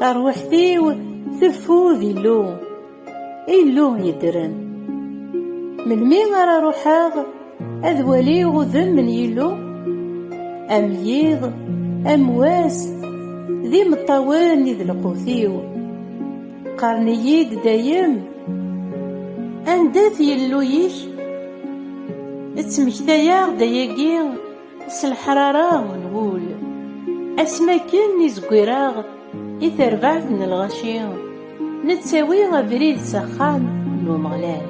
Tarwiḥt-iw teffud Illu, Illu yeddren. Melmi ara ruḥeɣ ad waliɣ udem n Yillu? Am yiḍ, am wass, d imeṭṭawen i d lqut-iw. Qqaren-iyi-d dayem, anda-t Yillu-ik? Ttmektayeɣ-d ayagi, s leḥrara n wul asmi akken i zeggireɣ i terbaɛt n lɣaci nettawi abrid s axxam n Umeɣlal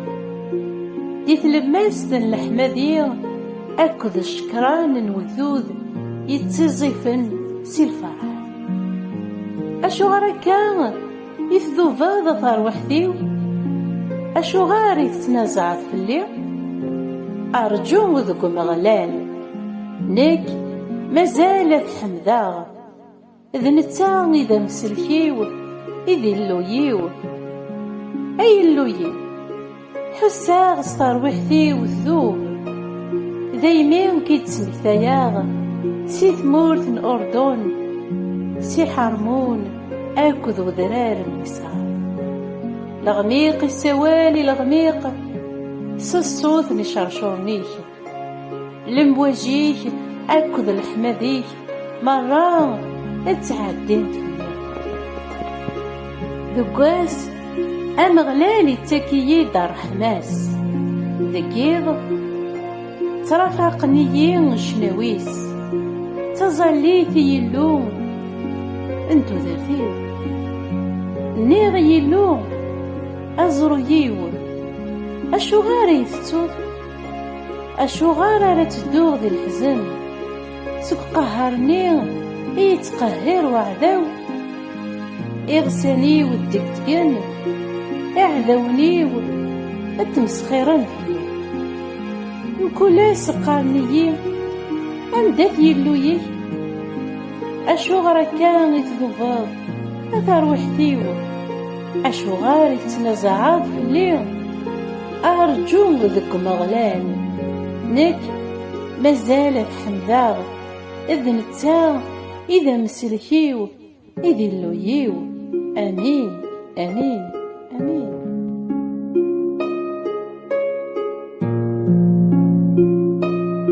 di tlemmast n leḥmadi akked ccekran n wegdud yettiẓifen si lferḥ acuɣer akka I tdubeḍ a tarwiḥt-iw? Acuɣer i tettnazaɛeḍ fell-i? Rǧu deg Umeɣlal. Nekk mazal ad t-ḥemdeɣ. D netta i d amsellek-iw, i d Illu-yiw. Ay Illu-yiw! Ḥusseɣ s terwiḥt-iw tdub Daymi k-id-ttmektayeɣ Si tmurt n Urdun Si Ḥarmun akked udrar n Miṣer Leɣmiq isawal i leɣmiq S ṣṣut n iceṛcuṛen-ik Lemwaǧ-ik akked leḥmad-ik merra ad ttɛeddint fell-i. Deg wass, Ameɣlal ittak-iyi-d ṛṛeḥma-s, deg yiḍ, ttrafaqen-iyi ccnawi-s, d taẓallit i Yillu n tudert-iw. Nniɣ i Yillu, Aẓru-yiw, acuɣer i yi-tettuḍ? Acuɣer ara tedduɣ di leḥzen Seg qehher-nni i yettqehhir waɛdaw Iɣsan-iw ddegdgen Iɛdawen-iw ad tmesxiren fell-i Mkul ass qqaren-iyi Anda-t Yillu-ik? Acuɣer akka i tdubeḍ a tarwiḥt-iw? Acuɣer i tettnazaɛeḍ fell-i? Arǧu deg Umeɣlal, nekk mazal ad t-ḥemdeɣ, d netta i d amsellek-iw, i d Illu-iw. Amin, amin, amin.